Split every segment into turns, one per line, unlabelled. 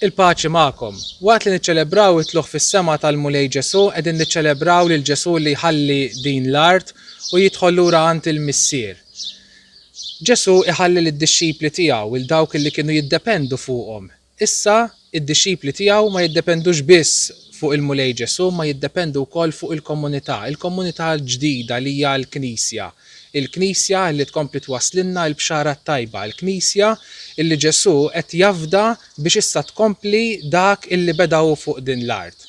Il-paċi magħkom. Waqt li niċċelebraw it-tlugħ fis-sema tal-Mulej Ġesù, qegħdin niċċelebraw lil Ġesù li jħalli din l-art u jidħol lura għand il-Missier. Ġesù jħalli lid-dixxipli tiegħu, 'il dawk li kienu jiddependu fuqhom, Issa, id-dixxipli tiegħu ma jiddependux biss fuq il-Mulej Ġesù, imma jiddependu wkoll fuq il-komunità, il-komunità l-ġdida li hija l-Knisja. Il-Knisja li tkompli twasslilna l-Bxara t-Tajba, il-Knisja li Ġesù qed jafda biex issa tkompli dak li beda hu fuq din l-art.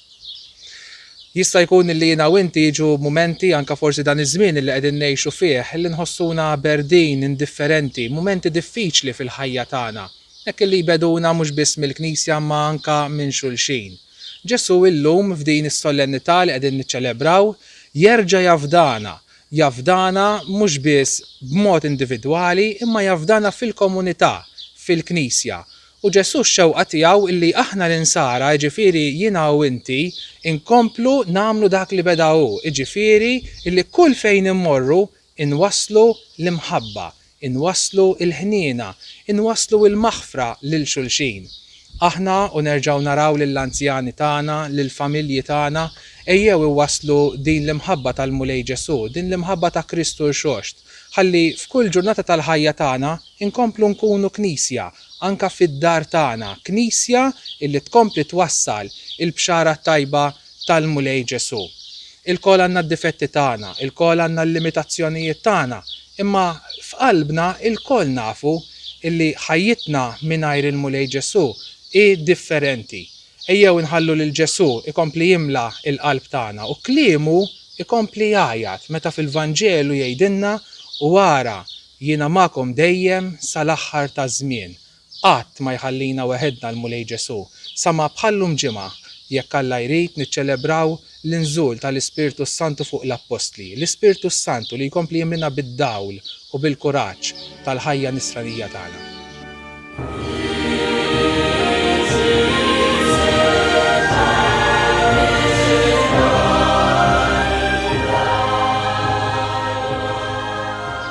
Jista' jkun li jiena u inti jiġu mumenti, anke forsi dan iż-żmien li qegħdin ngħixu fih, li nħossuna berdin, indifferenti, mumenti diffiċli fil-ħajja tagħna. Hekk illi jbegħduna mhux biss mill-Knisja imma anke minn xulxin. Ġesù illum f'din is-sollennità li qegħdin niċċelebraw jerġa' jafdana, jafdana mhux biss b'mod individwali imma jafdana fil-komunità, fil-Knisja. U Ġesù x-xewqa tiegħu illi aħna l-Insara, jiġifieri jiena u inti, inkomplu nagħmlu dak li beda hu, jiġifieri illi kull fejn immorru Inwasslu l-imħabba, inwasslu l-ħniena, inwasslu l-maħfra lil xulxin. Aħna u nerġgħu naraw lill-anzjani tagħna, lill-familji tagħna, ejjew iwasslu din l-imħabba tal-Mulej Ġesù, din l-imħabba ta' Kristu Rxoxt, ħalli f'kull ġurnata tal-ħajja tagħna nkomplu nkunu Knisja, anke fid-dar tagħna, Knisja illi tkompli twassal il-Bxara t-Tajba tal-Mulej Ġesù. Ilkoll għandna d-difetti tagħna, ilkoll għandna l-limitazzjonijiet tagħna, imma f'qalbna ilkoll nafu li ħajjitna mingħajr il-Mulej Ġesù hi differenti. Ejjew inħallu lil Ġesù jkompli jimla l-qalb tagħna u kliemu jkompli jgħajjat meta fil-Vanġelu jgħidilna, U ara, jiena magħkom dejjem sal-aħħar taż-żmien. Qatt ma jħallina weħedna l-Mulej Ġesù, sa ma bħal-lum Ġimgħa, jekk Alla jrid, niċċelebraw l-inżul tal-Ispirtu s-Santu fuq l-Appostli, l-Ispirtu s-Santu li jkompli jimlina bid-dawl u bil-kuraġġ tal-ħajja Nisranija tagħna.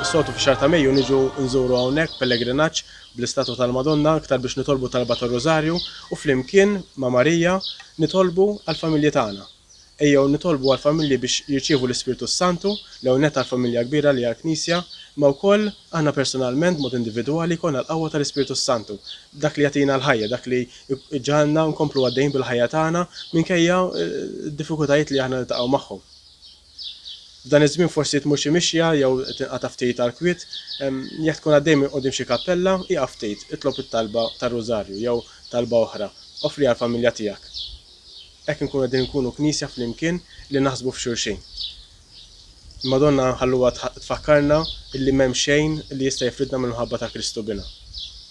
Is-soltu fix-xahar ta' Mejju niġu nżuru hawnhekk pellegrinaġġ bl-istatwa tal-Madonna aktar biex nitolbu talba tar-Rużarju u flimkien ma' Marija nitolbu għall-familji tagħna. Ejjew nitolbu għall-familji biex jirċievu l-Ispirtu s-Santu, l-ewwel nett għall-familja kbira li hija l-Knisja, imma wkoll aħna personalment b'mod individwali jkollna l-qawwa tal-Ispirtu s-Santu, dak li jagħtina l-ħajja, dak li jġagħalna nkomplu għaddejjin bil-ħajja tagħna minkejja d-diffikultajiet li aħna niltaqgħu magħhom. F'dan iż-żmien forsi tmur xi mixja jew tinqata' ftit għall-kwiet. Jekk tkun għaddej minn quddiem xi kappella, ieqaf ftit, itlob it-talba tar-Rużarju jew talba oħra, offriha l-familja tiegħek. Hekk inkunu qegħdin inkunu Knisja flimkien li naħsbu f'xulxin. Il-Madonna nħalluha tfakkarna illi m'hemm xejn li jista' jifridna mill-mħabba ta' Kristu bina.